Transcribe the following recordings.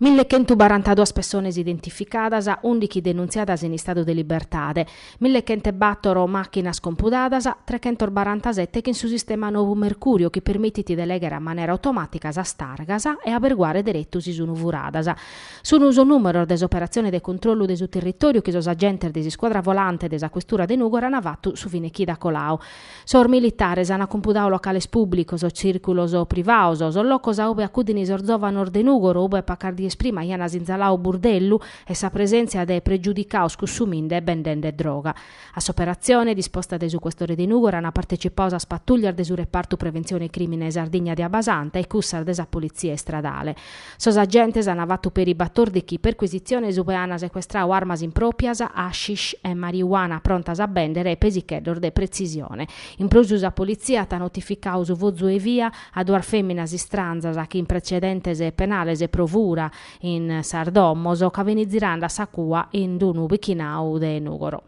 Mille chentu barantaduas pessones identificadas, ùndighi denuntziadas in istadu de libertade, mille chent'e bàtoro màchinas compudadas, trechentos barantasette chin su sistema novu Mercurio chi permitit de lèghere a manera automàtica sas targas e aberguare deretu si sun furadas. Sun sos nùmeros de s'operatzione de controllu de su territòriu chi sos agentes de s'iscuadra volante de sa Questura de Nùgoro an fatu su fine chida coladu Sos militares ant cumpudadu locales pùblicos, tzìrculos privados, sos locos a ube acudin sos zòvanos de Nùgoro, ube pacas dies prima ibian sinzaladu burdellu e sa presèntzia de pregiudicados cussuminde e bendende droga. A s'operatzione, disposta dae su questore de Nùgoro, ant partecipadu sas patùllias de su Repartu Preventzione Crìmine Sardigna de Abasanta e cussas de sa Politzia Istradale. Sos agentes an fatu peri batòrdighi percuisitziones ube an secuestradu armas impròpias, hashish e marijuana prontas a bèndere e pesicheddos de pretzisione. In prus sa politzia at notificadu su fozu 'e via a duas fèminas istranzas chin pretzedentes penales pro fura in sas domos ca fin zirande a sa cua in unu pichinadu de Nùgoro.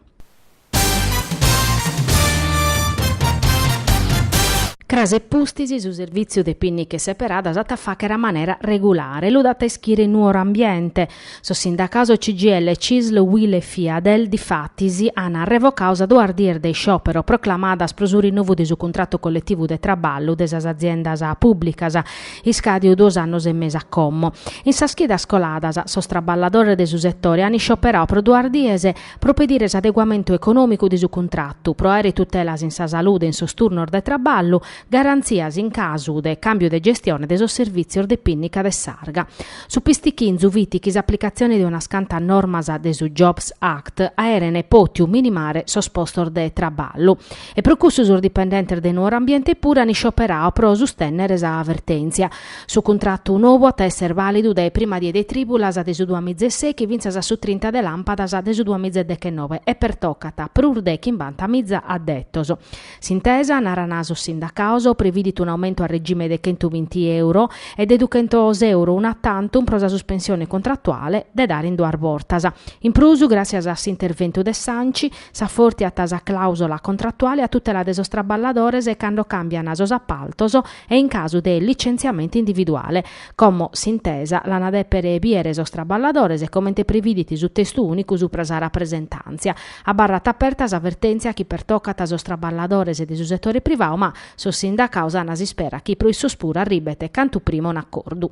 Cras e pustis su servìtziu de pìnniches seperadas at a fàghere a manera regulare lu dat a ischire Nuor'Ambiente. Sos sindacados de CGIL, Cisl, Uil e Fiadel, difatis, ant revocadu sas duas dies de isciòpero proclamadas pro su rinovu de su cuntratu colletivu de traballu de sas aziendas pùblicas, iscàdiu duos annos e mesu a como. In sas chidas coladas, sos traballadores de su setore ant iscioperadu pro duas dies, pro pedire s'adeguamentu econòmicu de su cuntratu, pro àere tutelas in sa salude e in sos turnos de traballu, garantzias in casu de càmbiu de gestione de sos servìtzios de pìnnica de s'arga. Su pistichinzu fit chi s'aplicatzione de unas cantas normas de su Jobs Act aerene pòtiu minimare sos postos de traballu e pro cussu sos dipendentes de Nuor'Ambiente puru an iscioperadu pro sustènnere sa vertèntzia Su cuntratu nou at a esser vàlidu dae prima die de trìbulas de su duas miza e sèichi fintzas a su trinta de làmpadas de su duas miza e dechenoe e pertocat prus de chimbanta miza addetos. S'intesa, narant sos sindacados, previdit un'aumentu a regime de chentu binti euro e de duchentos euro una tantum pro sa suspensione contratuale de dare in duas bortas. In prus, gràssias a s'interventu de s'Anci, s'afortiat sa clàusola contratuale a tutela de sos traballadores cando càmbian sos apaltos e in casu de licentziamentu individuale. Como s'intesa l'ana dèpere bìdere sos traballadores, comente prividit su testu ùnicu supra sa rapresentàntzia. Abarrat aperta sa vertèntzia chi pertocat sos traballadores de su setore privadu ma sos sindacados ana s'ispera chi pro issos puru arribet cantu prima un'acordu.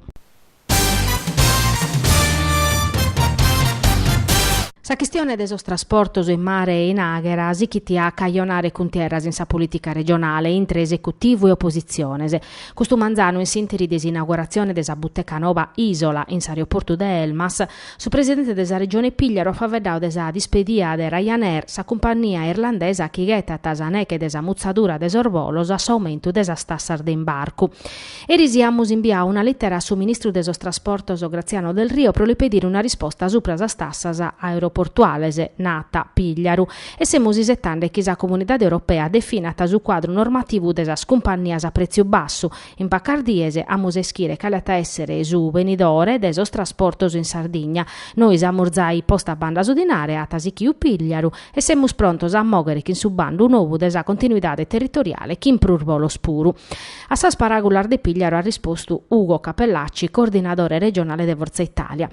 Sa chistione de sos trasportos in mare e in àghera sichit a cajonare cuntierras in sa polìtica regionale intre esecutivu e opositziones. Custu manzanu in s'ìnteri de s'inauguratzione de sa buteca noba Isola in s'aeroportu de Elmas, su presidente de sa Regione Pigliaru at faveddau de sa dispedia de Ryanair, sa cumpannia irlandesa chi ghetat sa neghe de sa mutzadura de sos bolos a s'aumentu de sas tassas de imbarcu. Eris amus imbiau una lìtera a su ministru de sos Trasportos Graziano Delrio pro li pedire una risposta supra sas tassas aeroportuales, nat Pigliaru, e semus isetande chi sa Comunidade Europea definat su cuadru normativu de sas cumpannias a prètziu bassu, in pacas dies amus a ischire cale at a èssere su benidore de sos trasportos in Sardigna, nois amus zai postu a banda su dinare, at sichiu Pigliaru, e semus prontos a mòghere chin su bandu novu de sa continuidade territoriale chin prus bolos puru. A sas paràgulas de Pigliaru at rispostu Ugo Cappellacci, coordinadore regionale de Forza Italia.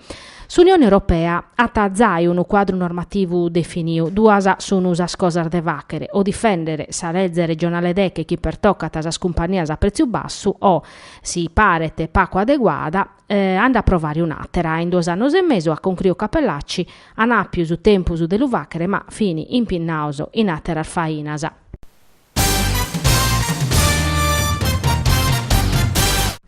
S'Unione Europea at zai unu cuadru normativu definiu, duas sunu sas cosas de fàghere, o difèndere sa lege regionale deghe chi pertocat sas cumpannias a prètziu bassu o, si paret pacu adeguada, a nde aprovare un'àtera. In duos annos e mesu, at concruiu Cappellacci, an àpiu su tempus de lu fàghere ma fin impinnaos in àteras fainas.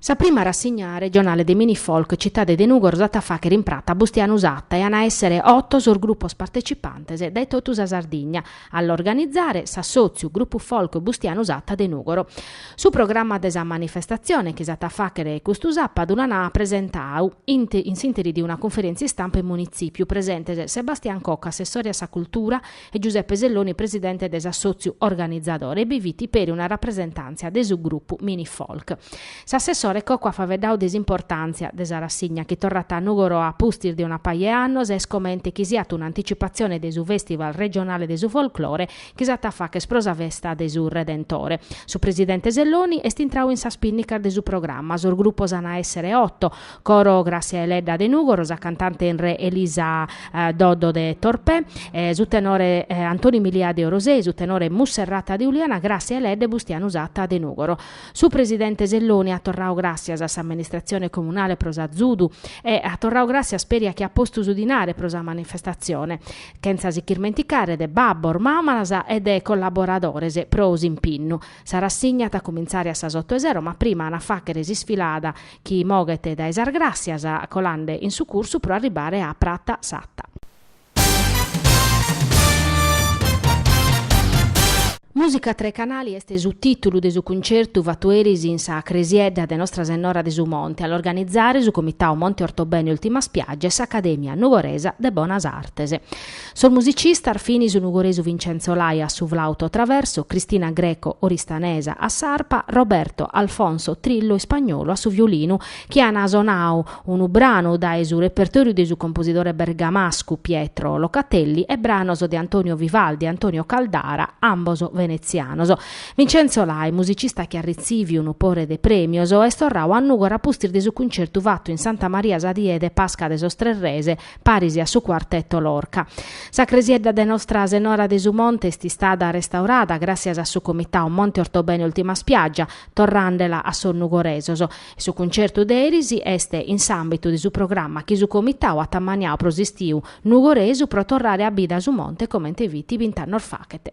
Sa prima rassigna regionale de mini-folk Citade de Nùgoro s'at a fàghere in prata Bustianu Satta e an a èssere oto sos grupos partecipantes dae totu sa Sardigna, a l'organitzare s'assòtziu Grupu Folk Bustianu Satta de Nùgoro. Su programma de sa manifestatzione chi s'at a fàghere custu sàpadu l'an presentau, in s'ìnteri de una cunferèntzia istampa in Munitzìpiu, presentes Sebastian Cocco, assessore a sa Cultura, e Giuseppe Selloni presidente de s'assòtziu organizadore, e bi fit peri una rapresentàntzia de su grupu Minifolk. S'assessore Cocco at faveddau de s'importàntzia de sa rassigna chi torrat a Nùgoro a pustis de una paja 'e annos e est comente chi siat un'anticipazione de su Festival regionale de su folklore chi s'at a fàghere pro sa festa de su Redentore. Su presidente Selloni est intrau in sas pinnicas de su programma, sos grupos an a èssere oto, Coro Gràssia Deledda de Nùgoro, sa cantante in re Elisa Doddo de Torpè, su tenore Antoni Milia de Orosei, su tenore Musserrata de Uliana, Gràssia Deledda e Bustianu Satta de Nùgoro. Su presidente Selloni at torrau gràssias a s'amministratzione comunale pro s'azudu e at torrau gràssias peri a chi at postu su dinare pro sa manifestatzione, chentza si ch'irmenticare de babbos, mamas e de collaboradores pro s'impinnu. Sa rassigna at a cumintzare a sas oto 'e sero ma prima an a fàghere s'isfilada chi moghet dae sas Gràssias, colande in su cursu pro arribare a Prata Satta. Mùsica a tres canali est su tìtulu de su cuncertu fatu eris in sa cresiedda de Nostra Sennora de su Monte a l'organizzare su Comitadu Monte Ortobene Ultima Spiaggia e s'Acadèmia Nugoresa de Bonas Artes. Sos musicistas fin su nugoresu Vincenzo Lai a su flauto traverso, Cristina Greco oristanesa a s'arpa, Roberto Alfonso Trillo ispagnolu a su violinu, chi an sonau unu branu dae su repertòriu de su composidore bergamascu Pietro Locatelli e branos de Antonio Vivaldi e Antonio Caldara, ambos venetzianos. Vincenzo Lai, musicista chi at retziviu unu pore de prèmios, est torrau a Nùgora pustis de su cuncertu fatu in Santa Maria sa die de Pasca de sos Tres Rese, paris a su Cuartetu Lorca. Sa cresiedda de Nostra Senora de su Monte est istada restaurada gràssias a su Comitau Monte Ortobene Ultima Spiaggia, torrandela a sos nugoresos, e su cuncertu de eris est in s'àmbitu de su programma chi su Comitau at ammaniau pro s'istiu nugoresu pro torrare a bida su monte comente fit bint'annos faghet.